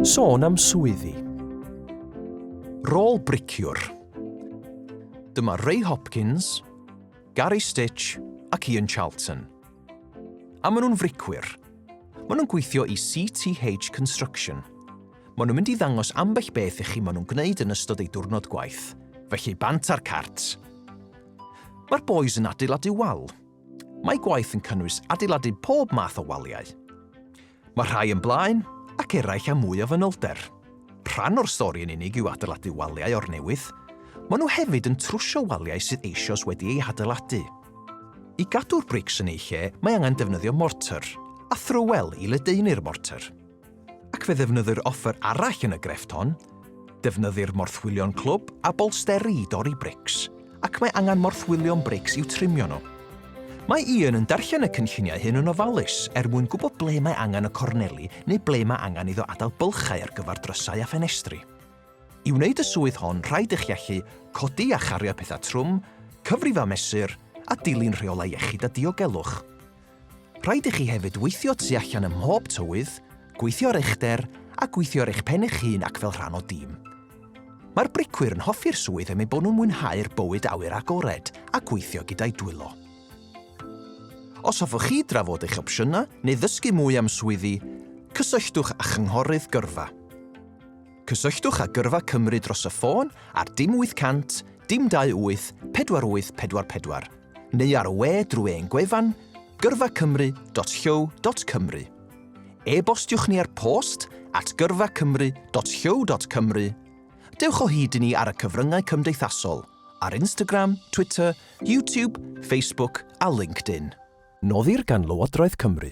Sôn am swyddi. Rôl briciwr. Dyma Ray Hopkins, Gary Stitch ac Ian Charlton. A maen nhw'n fricwyr. Maen nhw'n gweithio i CTH Construction. Maen nhw'n mynd i ddangos ambell beth i chi maen nhw'n gwneud yn ystod eu diwrnod gwaith. Felly bant ar cart. Mae'r boys yn adeiladu wal. Mae gwaith yn cynnwys adeiladu pob math o waliau. Mae rhai yn blaen, ac eraill â mwy o fanylder. Rhan o'r stori yn unig yw adeiladu waliau o'r newydd, maen nhw hefyd yn trwsio waliau sydd eisoes wedi eu hadeiladu. I gadw'r brics yn eu lle mae angen defnyddio mortar a thrywel i ledaenu'r mortar. Ac fe ddefnyddir offer arall yn y grefft hon, Defnyddir morthwylion clwb a bolsteri i dorri brics, ac mae angen morthwylion brics i'w trimio nhw. Mae Ian yn darllen y cynlluniau hyn yn ofalus er mwyn gwybod ble mae angen y corneli neu ble mae angen iddo adael bylchau ar gyfer drysau a ffenestri. I wneud y swydd hon rhaid i chi allu codi a chario pethau trwm, cyfrif a mesur, a dilyn rheolau iechyd a diogelwch. Rhaid i chi hefyd weithio tu allan ym mhob tywydd, gweithio ar eich der a gweithio ar eich pen eich hun ac fel rhan o dîm. Mae'r bricwyr yn hoffi'r swydd am eu bod nhw'n mwynhau'r bywyd awyr agored a gweithio gyda'u dwylo. Os hoffwch chi drafod eich opsiynau neu ddysgu mwy am swyddi, cysylltwch â Chynghorydd Gyrfa. Cysylltwch â Gyrfa Cymru dros y ffôn ar dim 800 dim 28 4844 neu ar y we drwy ein gwefan gyrfacymru.llyw.cymru. E-bostiwch ni ar post at gyrfacymru.llyw.cymru. Dewch o hyd i ni ar y cyfryngau cymdeithasol, ar Instagram, Twitter, YouTube, Facebook a LinkedIn. Noddir gan Lywodraeth Cymru.